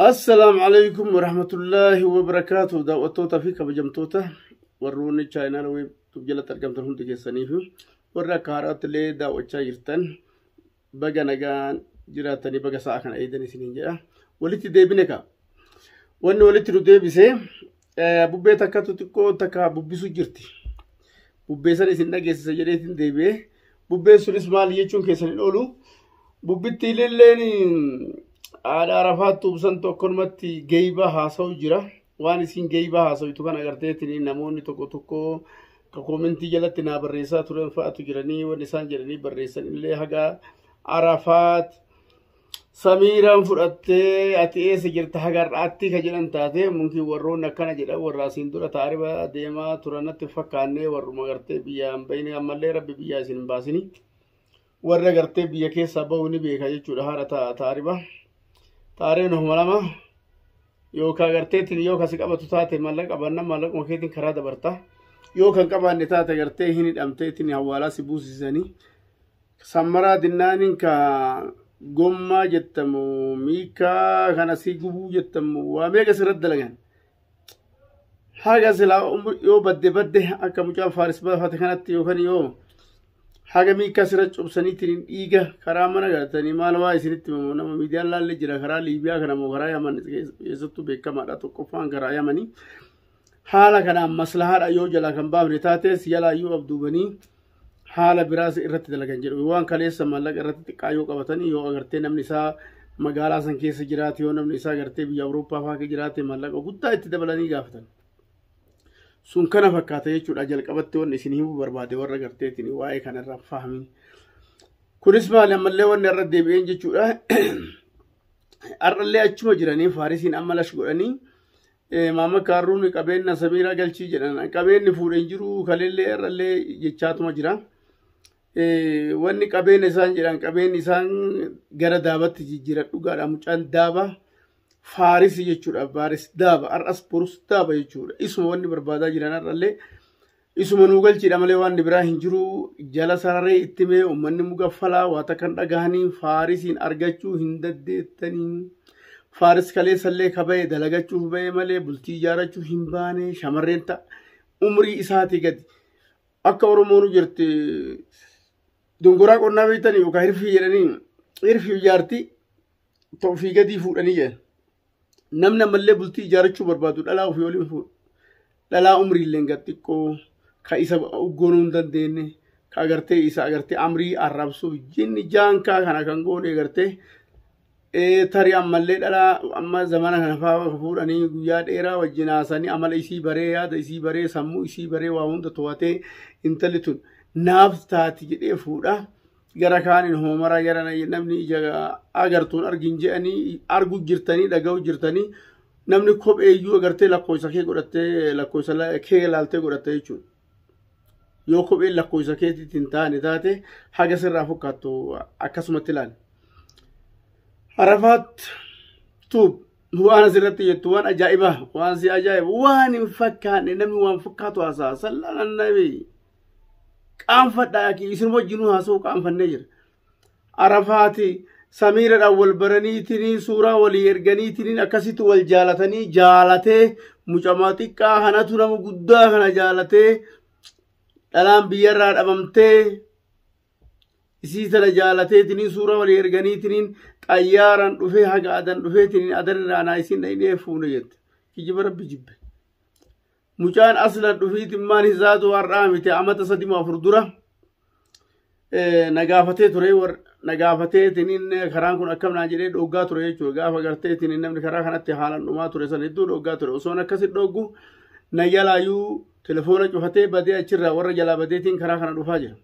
Assalaamu alaikum warahmatullaahi wabarakaatuh daawwattootaa fi kabajamtoota warroonni chaayinaala weebtuuf jalatti argamtan hundi keessanii fi warra akka haaraatti illee daawwachaa jirtan baga nagaan jiraatanii baga sa'a kana eedan isiniin jedha walitti deebine ka wanni walitti nu deebise Bubbee takkatu xiqqoo takka bubbisu jirti. Bubbee sana isin dhageessisa jedheetiin deebi'ee bubbeen sunis maal jechuun keessan hin oolu. Bubbitti ililleen haadha arafaatti ubsan tokkonumatti geeyba haasa'u jira. Waan isin geeyba haasa'utu kan agarteetiin namoonni tokko tokko ka koomentii jalatti naa barreessaa turan fa'atu jiranii waan isaan jedhanii barreessan illee haga arafaat Samiiraan fudhattee ati eessa jirta hagar'aatti ka jedhan taate mumkin warroonni akkana jedhan warra asiin dura taariba deemaa turanatti fakkaannee warruma gartee biyyaa hin bahine ammallee rabbi biyyaa isin hin baasini warra gartee biyya keessaa bahu ni beeka jechuudha haadha ta- taariba taaribni kuma lama yookaan garteetiin yoo kasi qabatu taate mallaqa qabanna mallaquma keetiin karaa dabarta yoo kan qabaanne taate gartee hin hidhamteetiin hawaalaa si buusisanii Sammaraa dinnaaniin ka gommaa jettamu miikaa kan asii gubuu jettamu waa meeqa sirratti dalagan. Haga silaa yoo badde badde akka mucaan faaris baafate kanatti yookaan yoo haga miikaa sirra cobsaniitiin dhiiga karaa mana galatanii maal waa isinitti mamu nama miidiyaan laallee jira karaa Liibiyaa kana moo karaa Yaman keessattuu beekamaadha tokkoffaan karaa Yamanii. haala kanaan maslahaadha yoo jalaa kan baafne taates jalaa yoo abduubanii haala biraas irratti dalagan jedhu waan kaleessa maallaqa irratti xiqqaa yoo qabatanii yoo agartee namni isaa magaalaa san keessa jiraate yoo namni isaa agartee biyya awurooppaa fa'aa keessa jiraate maallaqa guddaa itti dabalanii gaafatan sun kana fakkaata jechuudha jalqabatti wanni isin himuu barbaade warra agarteetiin waa'ee kanarraa fahamin kunis maali ammallee wanni irra deebi'een jechuudha har'allee achuma jiranii faarisiin amma lash godhanii Maama Kaarruun qabeenna Samiiraa galchii jedhan. Qabeenni fuudhe hin jiru kaleellee irrallee jechaatuma jira. Wanni qabeenya isaan jedhan qabeenyi isaan gara daabatti jijjiira dhugaadha. Mucaan daaba faarisi jechuudha. Baaris daaba har'as borus daaba jechuudha. Isuma wanni barbaadaa jiran har'allee Isuma nuu galchiidha malee waan biraa hin jiru jala sararee itti mee uummanni mugaffalaa waata kan dhagahanii faarisiin argachuu hin daddeettanii. Faaris kaleessallee kaba'e dalagachuuf ba'e malee bultii ijaarachuu hin baane shamarreen ta'a. Umrii isaatii gadi. Akka Oromoonu jirti dongoraa qonnaa beektanii yookaan hirfii jedhanii hirfii ijaartii ta'u fi gadii fuudhanii jedhan. namni ammallee bultii ijaarachuu barbaadu dhalaa ofii waliin fuudha. Dhalaa umriillee gad xiqqoo ka isa uggoonuu hin dandeenye ka agartee isa agartee amrii arrabsuuf jinni jaankaa kana kan goone agartee ee, tarii ammallee dhalaa amma zamana kana fa'aa fuudhanii guyyaa dheeraa wajjin haasanii amala isii baree yaada isii baree sammuu isii baree waa hunda to'atee intalli tun naaf taati jedhee fuudha. gara kaanin hoomara gara namni ija agartuun argin je'anii argu jirtanii dhaga'u jirtanii namni kophee iyyuu agartee lakkoofsa kee godhattee lakkoofsa kee ilaaltee godhattee jechuudha. Yoo kopheen lakkoofsa keetiitti hin taane taate haga sirraa fakkaattu akkasumatti ilaali. Harafaat tuub waan asirratti jettu waan ajaa'ibaa waan si ajaa'ibu waan hin fakkaanne namni waan fakkaatu haasaa sallaan annabii. qaanfadha akii isin wajjinuu haasa'u qaanfannee jira arafaati samiiradhaan wal baraniitinii suuraa walii erganiitiniin akkasitti wal jaalatanii jaalatee mucamaa xiqqaa kanatu nama guddaa kana jaalatee dhalaan biyyarraa dhabamtee isii tana jaalateetiniin suuraa walii erganiitiniin xayyaaraan dhufee haga adan dhufeetiniin adan irraa naa isin dhaqnee fuune jette kijiba rabbi jibbe Mucaan aslan dhufiitimmaan hisaatu har'aa miti amata sadima afur dura nagaafatee ture nagaafatee tiniin karaan kun akkam naa jedhee dhoggaa ture jechuudha gaafa gartee tiniin namni karaa kanatti haalan dhumaa ture san hedduu dhoggaa ture osoon akkasi dhoggu na jalaayyuu telefoona cufatee badee achirraa warra jalaa badeetiin karaa kana dhufaa jira.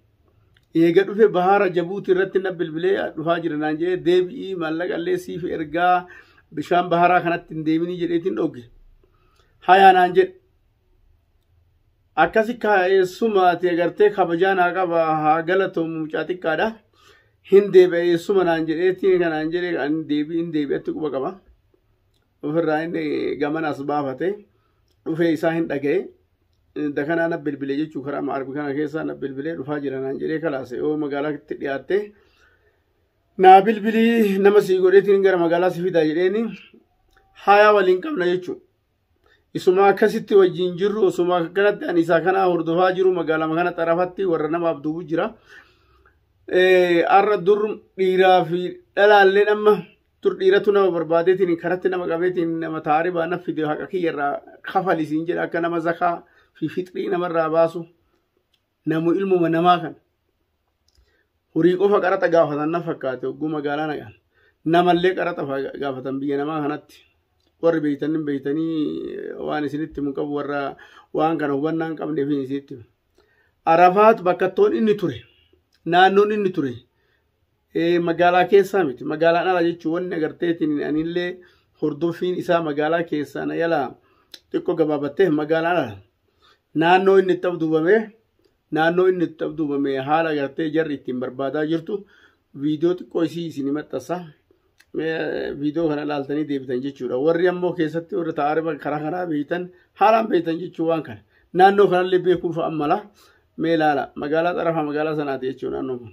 Eega dhufe bahaara jabuutii irratti na bilbilee dhufaa jira naan jedhee deebi'ii maallaqa illee siif ergaa bishaan baharaa kanatti hin deeminii jedheetiin dhogge. hayaa naan jedhe akkasi kaa'eessuma ati agartee kabajaa naa qaba haa galatoomu mucaa xiqqaadha hin deebi'a eessuma naan jedheetti kanaan jedhe kan deebi'i hin deebi'atti quba qaba ofirraa inni gamana as baafate dhufee isaa hin dhaga'e dakanaa na bilbile jechuu karaa maarbi kana keessaa na bilbilee dhufaa jira naan jedhee kalaase yoo magaalaatti dhiyaattee naa bilbilii nama sii godheetiin gara magaalaa si fidaa jedheeni haayaa waliin qabna jechuu isuma akkasitti wajjin jirru osuma akkanatti ani isaa kana hordofaa jiru magaalama kana xarafatti warra nama abduubu jira arra dur dhiiraa fi dhalaalleen amma dur dhiiratu nama barbaadeetiin karatti nama qabeetiin nama taaribaa na fide haqa kiyyarraa kafalisiin jedha akka nama zakaa fi fixrii namarraa baasu namu ilmuma namaa kana horii qofa qaraxa gaafatan na fakkaate hogguu magaalaa naqan namallee qaraxa gaafatan biyya namaa kanatti warri beeytanii beeytanii waan isinitti himu qabu warra waan kana hubannaa hin qabneef isinitti himu. Arafaat bakkattoon inni ture naannoon inni ture magaalaa keessaa miti magaalaan ala jechuun wanni agarteetiin anillee hordofiin isaa magaalaa keessaa na yala xiqqoo gabaabattee magaalaan ala naannoo inni itti abduubame naannoo inni itti abduubame haala agartee jarri ittiin barbaadaa jirtu viidiyoo xiqqoo isii isin maxxansa viidiyoo kana ilaaltanii deebitan jechuudha warri ammoo keessatti warri taa'aa karaa kanaa beektan haalaan beektan jechuu waan kana naannoo kanallee beekuuf ammala mee ilaala magaalaa xarafaa magaalaa sanaati jechuudha naannoo kun.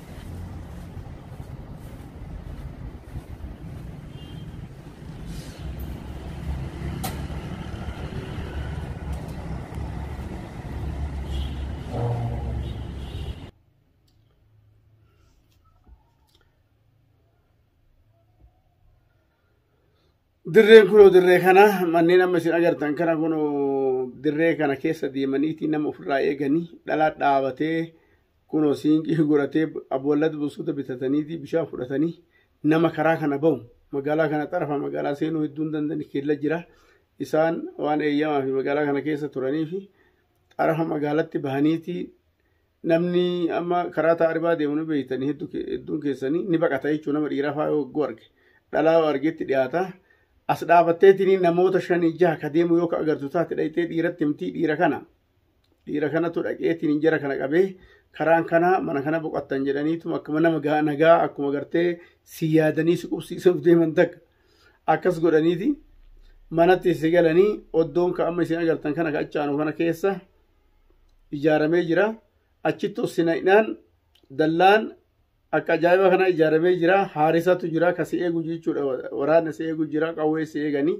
Dirreen kunoo dirree kana manneen amma isin agartan kana kunoo dirree kana keessa deemaniiti nama ofirraa eeganii dhalaa dhaabatee Kunoo siinqii godhatee aboollata bossoota bitataniiti bishaan fudhatanii nama karaa kana bahu magaalaa kana xarafa magaalaa seenuu hedduu hin dandeenye keella jira. Isaan waan eeyyamaa fi magaalaa kana keessa turanii fi xarafa magaalatti bahaniiti namni amma karaa taaribaa deemu ni beektanii hedduun keessanii ni baqata jechuun nama dhiiraa fa'aa yoo hogguu arge dhalaa yoo argetti dhiyaata. As dhaabatteetiin namoota shanii jaha ka deemu yoo ka agartu taate dhayxee dhiiratti himtii dhiira kana dhiira kanatu dhaqeetiin hin jara kana qabee karaan kana mana kana boqattan jedhaniitu akkuma nama gaa- nagaa akkuma gartee si yaadanii si qubsiisuuf deeman takka akkas godhaniiti manatti si galanii oddoon ka amma isin agartan kana ka achaanu kana keessa ijaaramee jira achitti ossina'inaan dallaan akka ajaa'iba kana ijaaramee jira haarisatu jira ka si eegu jechuudha waraana si eegu jira qawwee si eeganii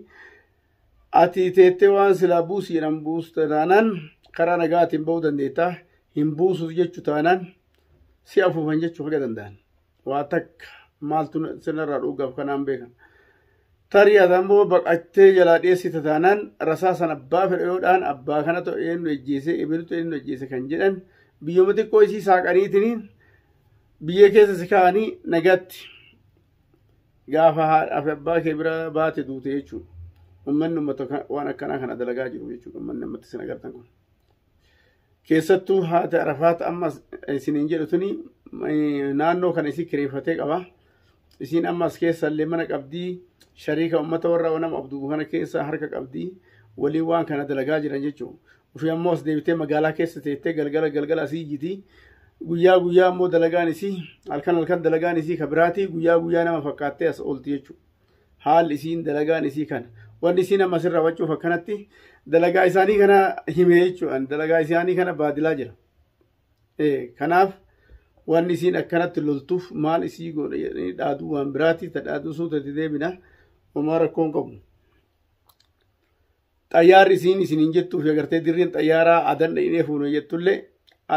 ati teettee waan silaa buusi jedhan buusta taanaan karaa nagaatiin ba'uu dandeetta hin buusuuf jechu taanaan si afuufan jechuu haga danda'an waa takka maaltu sirnarraa dhugaaf kanaan beekan Tarii ati ammoo baqattee jalaa dheessita taanaan rasaasan abbaa fedhe yoo dhaan abbaa kana ta'u eenyu ejjeese ebiltu eenyu ejjeese kan jedhan biyyuma xiqqoo isii saaqaniitiin biyya keessa si kaa'anii nagaatti gaafa haadhaa fi abbaa kee bira baate duute jechuudha. Uummanni uummata waan akkanaa kana dalagaa jiru jechuudha. Uummanni uummata isin agartan kun. keessattuu haati arafaat amma isiniin jedhu tuni naannoo kana isii kireeffatee qaba isiin amma as keessa illee mana qabdii shariika ummata warra wanam abduu kana keessa harka qabdii waliin waan kana dalagaa jiran jechuudha ofii ammoo as deebitee magaalaa keessa teettee galgala galgala asii jiti guyyaa guyyaa ammoo dalagaan isii halkan halkan dalagaan isii ka biraatii guyyaa guyyaa nama fakkaattee as oolti jechuudha haalli isiin dalagaan isii kana wanni isiin amma sirra wacuuf akkanatti dalagaa isaanii kana hime jechuudhaan dalagaa isaanii kana baadilaa jira kanaaf wanni isiin akkanatti loltuuf maal isii godha jedhanii dhaaduu waan biraati ta dhaaduu suutatti deebina homaa rakkoon qabu xayyaarri isiin isin hin jettuuf agartee dirriin xayyaaraa adan dhaqnee fuune jettullee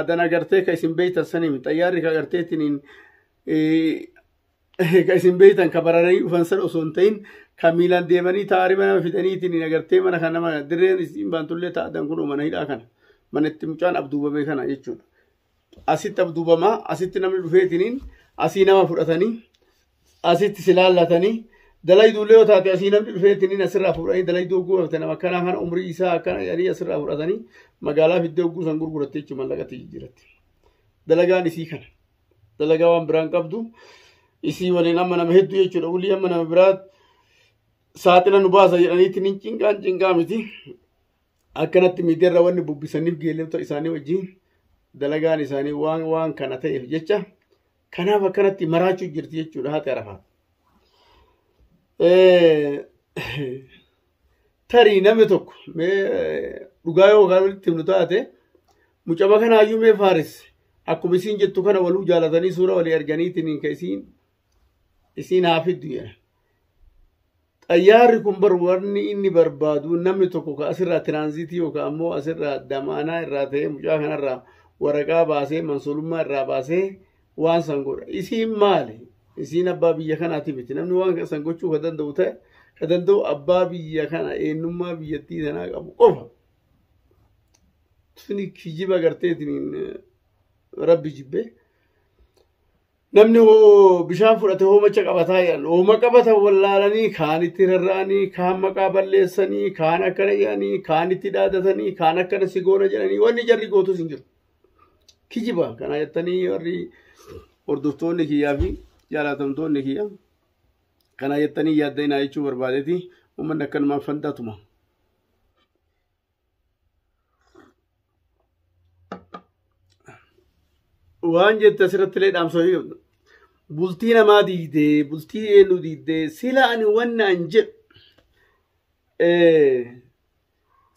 adan agartee ka isin beeytan sanimi xayyaarri ka agartee ittiin ka isin beektan ka bararanii dhufan san osoo hin ta'in ka miilaan deemanii taariba nama fidaniitiin agartee mana kana nama dirreen isiin baantullee taa'atan kun mana hidhaa kana mana itti mucaan abduubame kana jechuudha. Asitti abduubamaa asitti namni dhufeetiniin asii nama fudhatanii asitti si laallatanii dalayduullee yoo taate asii namni dhufeetiniin asirraa fuudhanii dalayduu oguu hafte nama akkanaa kana umrii isaa akkana jedhanii asirraa fudhatanii magaalaa fiddee oguu san gurguratte jechuun mallaqatti jijjiiratte. Dalagaan isii kana. dalagaa waan biraan qabdu isii waliin amma nama hedduu jechuudha ulii amma nama biraa saaxila nu baasa jedhaniitti ni cinqaan cinqaa miti akkanatti miidiyaarra wanni bubbisaniif geelota isaanii wajjin dalagaan isaanii waan waan kana ta'eef jecha kanaaf akkanatti maraachuu jirti jechuudha haati arafaa. tarii namni tokko mee dhugaa yoo kan walitti himnu taate mucama kana hayyuu mee faaris akkuma isiin jettu kana waluu jaalatanii suura walii arganiitiin ka isiin isiin haa fiddu jedha. Xayyaarri kun bar warni inni barbaadu namni tokko ka asirraa tiraanziitii yookaan ammoo asirraa damaanaa irraa ta'ee mucaa kanarraa waraqaa baasee mansuulummaa irraa baasee waan san godha isiin maali isiin abbaa biyya kanaati miti namni waan san gochuu ka danda'u ta'e ka danda'u abbaa biyya kana eenyummaa biyyattii sanaa qabu qofa suni kijiba garteetiin rabbi jibbee namni hoo bishaan fudhate hoomacha qabataa jedhan hooma qabatan wallaalanii kaan itti rarra'anii kaan maqaa balleessanii kaan akkana jedhanii kaan itti dhaadatanii kaan akkana si goona jedhanii wanni jarri gootus hin jiru kijiba kana jettanii warri hordoftoonni kiyyaa fi jaalatamtoonni kiyya kana jettanii yaaddainaa jechuu barbaadeeti uummanni akkanumaan fandaatuma. Waan jette asirratti illee dhaamsoo bultii namaa diidee bultii eenyu diidee sila ani wannaan jedhu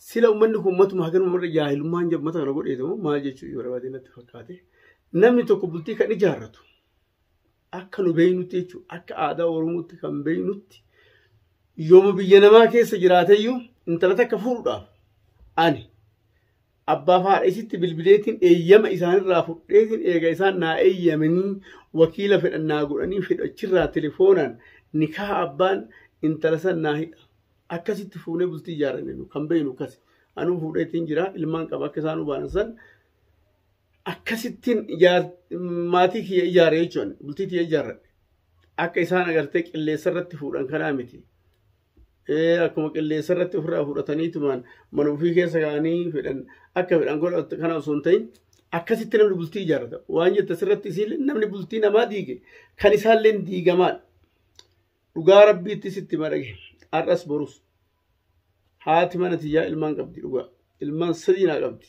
Sila ummanni kun matuma haganuma marra jaahilummaan jedhu mata kana godheeti moo maal jechuu yoo barbaadee natti fakkaate. Namni tokko bultii kan ijaarratu akka nu beeynutti jechuudha. Akka aadaa Oromootti kan beeynutti yooma biyya namaa keessa jiraateyyuu intala takka fuudhuudhaaf ani abbaa fi haadha isitti bilbileetiin eeyyama isaanirraa fudheetiin eega isaan naa eeyyamanii wakiila fedhan naa godhanii fedhachirraa telefoonaan nikaa abbaan intala san naa hidha. akkasitti fuunee bultii ijaarranne nu kan beeknu akkasi. Anuu fuudheetiin jira ilmaan qaba akka isaan hubaan san akkasittiin maatii kiyya ijaare jechuun bultii kiyya ijaarradhe. Akka isaan agartee qilleessa irratti fuudhan kanaa miti. Akkuma qilleessa irratti ofirraa fudhataniitumaan mana ofii keessa kaa'anii fedhan akka fedhan godhatu kana osoo hin ta'in akkasitti namni bultii ijaarrata. Waan jette asirratti isiin namni bultii namaa diige kan isaallee diigamaadha. dhugaa rabbiitti sitti madhage har'as borus haati mana tiyyaa ilmaan qabdi dhugaa ilmaan sadii naa qabdi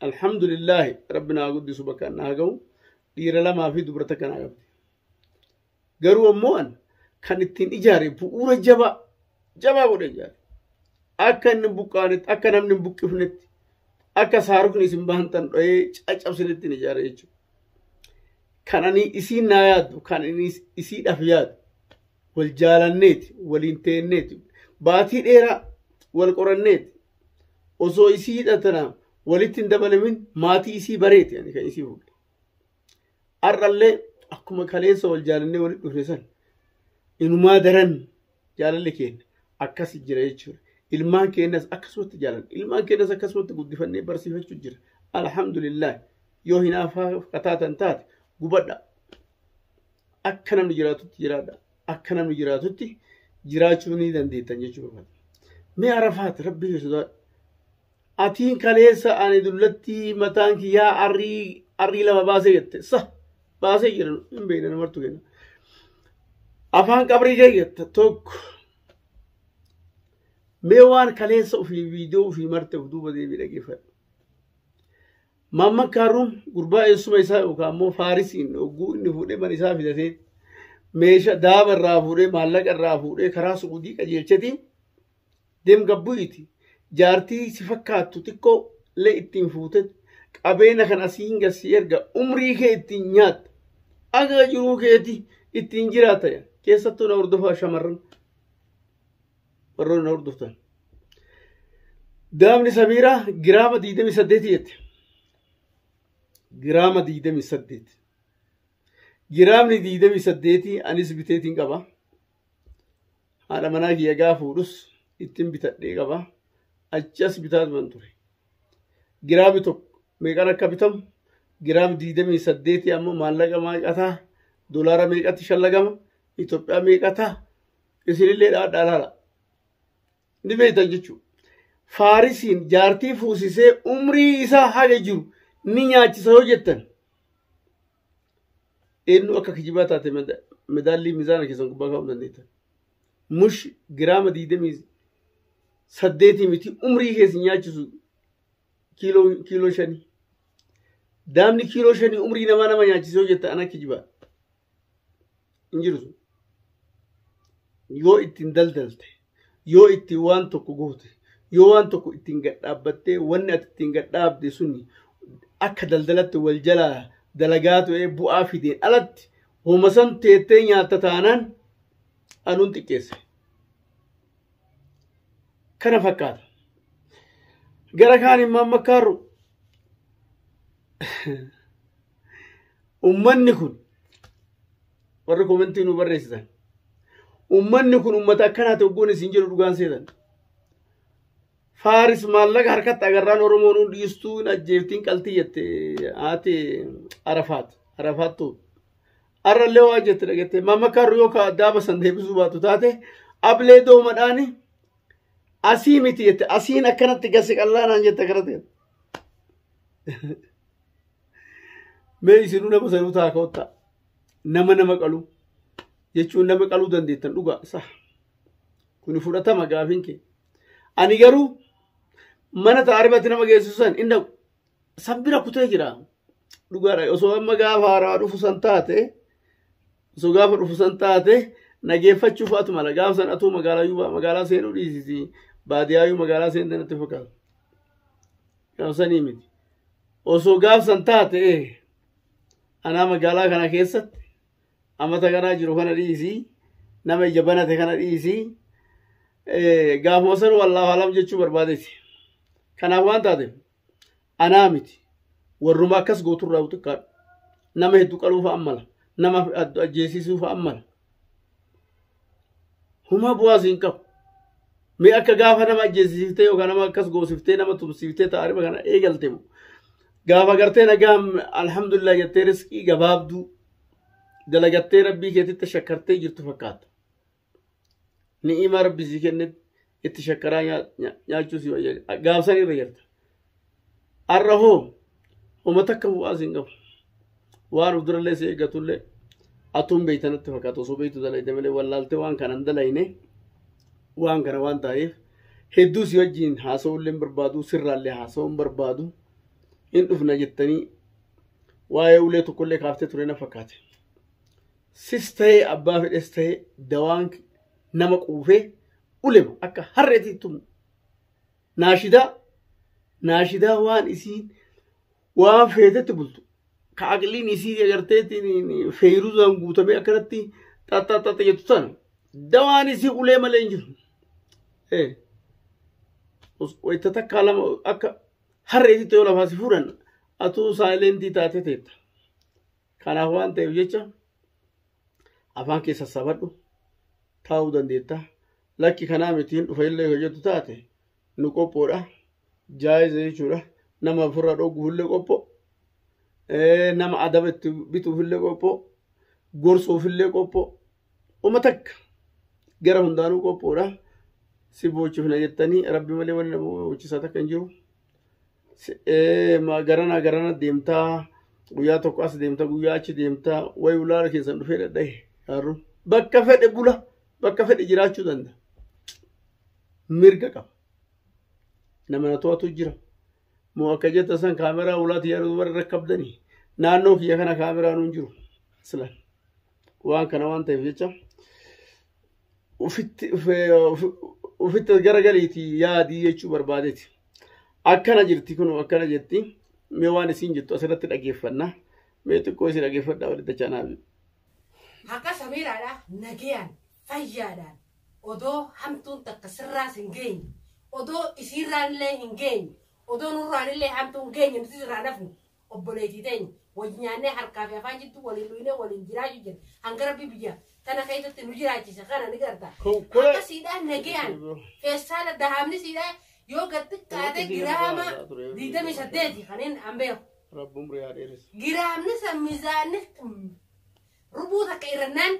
alhamdulillaahi rabbi naa guddisu bakka naa ga'u dhiira lamaa fi dubra takka naa qabdi garuu ammoo an kan ittiin ijaare bu'uura jabaa jabaa godhe ijaare akka inni buqqaanetti akka namni hin buqqifnetti akka saarukni isin bahantan dho'ee caccabsinetti hin ijaare jechuudha kan ani isiin naa yaadu kan ani isiidhaaf yaadu wal jaalanneeti waliin teenneeti baatii dheeraa wal qoranneeti osoo isii hidhatana walitti hin dabalamin maatii isii bareeti ani kan isii fuudhe har'allee akkuma kaleessa wal jaalannee walitti dhufne san inumaa daran jaalalli keenya akkas jira jechuudha. Ilmaan keenyas akkasumatti jaalanna. Ilmaan keenyas akkasumatti guddifannee barsiifachuu jira. Alhamdulillah yoo hinaafaa kataatan taate gubadha. Akka namni jiraatutti jiraadha. Akka namni jiraatutti jiraachuu ni dandeettan jechuudha. Mee arafaat rabbii sodaadha. Atiin kaleessa ani dullattii mataan kiyyaa arrii arrii lama baasee jette sa baasee jira hin beekne namartu kenna. Afaan qabrii kee jetta tokko mee waan kaleessa ofii viidiyoo ofii marte of duuba deebii dhageeffadhu. Maamman Kaaruun gurbaa eessuma isaa yookaan immoo Faarisiin hogguu inni fuudhee mana isaa fidatee meesha daaba irraa fuudhee maallaqa irraa fuudhee karaa suudii qajeelchetii deem gabbu'iti jaartii si fakkaattu xiqqoo illee ittiin fuutet qabeena kan asii hin gassii erga umrii kee ittiin nyaatta aga jiruu keeti ittiin jiraata jedhan keessattuu na hordofaa shamarran warroonni na hordoftan daamni samiiraa giraama 28 jette giraama 28 giraamni 28 anis biteetiin qaba haadha manaa kiyya gaa fuudhus ittiin bitadhee qaba achi as bitaa turan ture giraami tokko meeqan akka bitamu giraam diidamii saddeetii ammoo maallaqa meeqataa dolaara meeqatti shallagama Itoophiyaa meeqataa isinillee dhaadhaa laala ni beektan jechuudha. Faarisiin jaartii fuusisee umrii isaa haga jiru ni nyaachisa yoo jettan eenyu akka kijibaa taate madaallii mizaana keessan gubbaa kaa'uu dandeettan. Mush giraama digdamii saddeetii miti umrii keessa nyaachisu kiiloo kiiloo shanii. Daamni kiiloo shanii umrii namaa nama nyaachisee hojjetta ana kijibaa. hin jiru sun yoo ittiin daldalte yoo ittiin waan tokko goote yoo waan tokko ittiin gadhaabbattee wanni ati ittiin gadhaabde suni akka daldalatti wal jalaa dalagaa ta'ee bu'aa fideen alatti homasan teettee nyaatta taanaan anuun xiqqeesse. kana fakkaata. Gara kaan immoo amma kaarru ummanni kun warri komentii nu barreessitan ummanni kun ummata akkanaati oggoon isin jedhu dhugaan seetan. Faaris maallaqa harkatti agarraan Oromoon hundi dhiistuu hin ajjeeftiin qaltii jette haati Arafaat Arafaattuu. Arrallee waa jette dhagette. Mamma karru yoo ka addaa basan deebisuu baatu taate ablee doomadhaani asii miti jette. Asiin akkanatti gasi qallaanaan jette akkanatti jette. Mee isinuu nama sanuu taa ka'otta. Nama nama qalu. Jechuun nama qaluu dandeettan dhugaa isaa. Kuni fudhatama gaafiin kee. Ani garuu mana ta'a arbatti nama geessisu san hin dhaqu. sabbira kutee jira dhugaadha osoo amma gaafa haaraa dhufu san taate osoo gaafa dhufu san taate nageeffachuu fa'aatu mala gaafa san atuu magaalaa magaalaa seenuu dhiisisi baadiyaayyuu magaalaa seente natti fakkaata gaafa sanii miti osoo gaafa san taate anaa magaalaa kana keessatti amata kanaa jiru kana dhiisii nama ija banate kana dhiisii gaafuma san wallaahu alam jechuu barbaadeti kanaaf waan taateef Anaa miti. Warruma akkas gootu irraa xiqqaadhu. Nama heddu qaluu fa'aan mala. Nama heddu ajjeesisuu fa'aan mala. Huma bu'aas hin qabu. Mee akka gaafa nama ajjeesiftee yookaan nama akkas goosiftee nama tumsiftee ta'a riba kana eegalte moo. Gaafa gartee nagaa alhamdulillah jettee riskii gabaabduu dalagattee rabbii keetitti shakkartee jirtu fakkaata. ni'imaa rabbi sii kennetti itti shakkaraa nyaachuu si wayya gaafsan irra jirta arra hoo homa takka bu'aa siin qabu waan of durallee si eeggatullee atuun beeytanatti fakkaatu osoo beeytu dalayde malee wallaaltee waan kanan dalayne waan kana waan ta'eef hedduu si wajjiin haasa'ullee barbaadu sirraallee haasa'uun barbaadu hin dhufna jettanii waa'ee ulee tokkollee kaaftee ture na fakkaate. sis ta'ee abbaa fedhes ta'ee dawaan nama quufee ulema akka harreetiin tumu naashidaa naashidaa waan isiin waan feetetti bultu ka aqliin isii agarteetiin feeyiruzaan guutamee akkanatti xaxxaxxaxxa jettu sana dawaan isii ulee malee hin jiru. Eh. Os- Wayita takkaa lama akka harreetitti yoo lafaasi fuudhan atuu saayilentii taatee teetta. Kanaaf waan ta'eef jecha afaan kee sassaabadhu taa'uu dandeetta. Lakki kanaa miti hin dhufa illee yoo jettu taate nu qophoodha. Jaayiza jechuudha. Nama ofirraa dhooguuf illee qophoo. Nama adaba itti bituuf illee qophoo. Gorsuuf illee qophoo. Uma takka gara hundaanuu qophoodha. Si boochifna jettanii rabbi malee wanni nama boochisaa takka hin jiru. Si- ee, ma- Garanaa garana deemtaa guyyaa tokko as deemta guyyaa achi deemta wayi ulaala keessan dhufee dhadhahe gaarru bakka fedhe bula bakka fedhe jiraachuu danda'a. Mirga qaba. Nama na to'atu jira. Moo akka jetta san kaameraa ulaati yaadu warra rakkabdanii naannoo kiyya kana kaameraan hin jiru. Silaan. waan kana waan ta'eef jecha ufitti ufitti garagaliiti yaadii jechuu barbaadeeti akkana jirti kun akkana jirti mee waan isiin jettu asirratti dhageeffanna mee xiqqoo isin dhageeffadhaa walitti chaanaafi. Haqa Samiiraadha nagayaan fayyaadhaan odoo hamtuun takka sirraas hin geenye odoo isiirraan illee hin geenye odoo nurraan illee hamtuun geenye nuti irraa nafnu obboleetii teenya wajji nyaannee harkaa fi afaan jidduu waliin dhuynee waliin jiraachuu jira hanga rabbi biyya tana keessatti nu jiraachise kana ni garta akka siidhaa nagayaan feessaala dahaamni siidhaa yoo gad xiqqaate giraama digdamii saddeeti kanneen an beeku Rabbi umrii haa dheeressu. giraamni san miizaanni rubuu takka irrannaan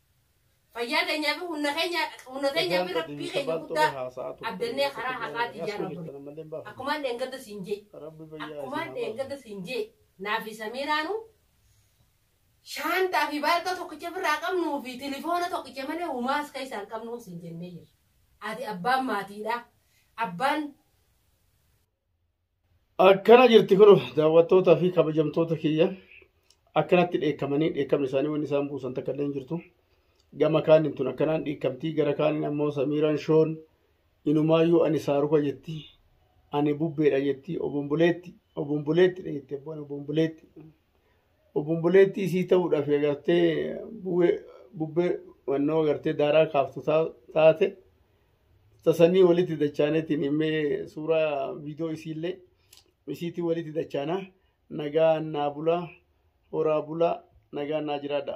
Fayyaa keenyaa fi humna keenya humna keenyaa fi rabbii keenya guddaa abdannee karaa haqaatiin yaa rabbi. Akkumaan dheengadda siin jee. Akkumaan dheengadda siin jee. Naa fi Samiiraanu shaantaa fi baalkaa tokkicha ofirraa qabnuu fi tilifoona tokkicha malee humaas keessaa hin qabnu siin jennee jirra. Ati abbaan maatiidha. Abbaan Akkana jirti kun daawwattootaa fi kabajamtoota kiyya akkanatti dheekkamanii dheekkamni isaanii wanni isaan buusan takka illee hin jirtu. Gama kaaniin tun akkanaan dhiikkamtii gara kaaniin ammoo Samiiraan Shoon inumaayyuu ani saaruka jetti ani bubbeedha jetti obomboleetti obomboleettidha jetti abbaan obomboleetti. Obomboleettii isii ta'uudhaaf agartee bu'ee bubbee wannoo agartee daaraa kaaftu taa- taate tasanii walitti dachaanetiin himmee suuraa viidiyoo isiillee isiitii walitti dachaana nagaa naa bulaa horaa bulaa nagaa naa jiraadha.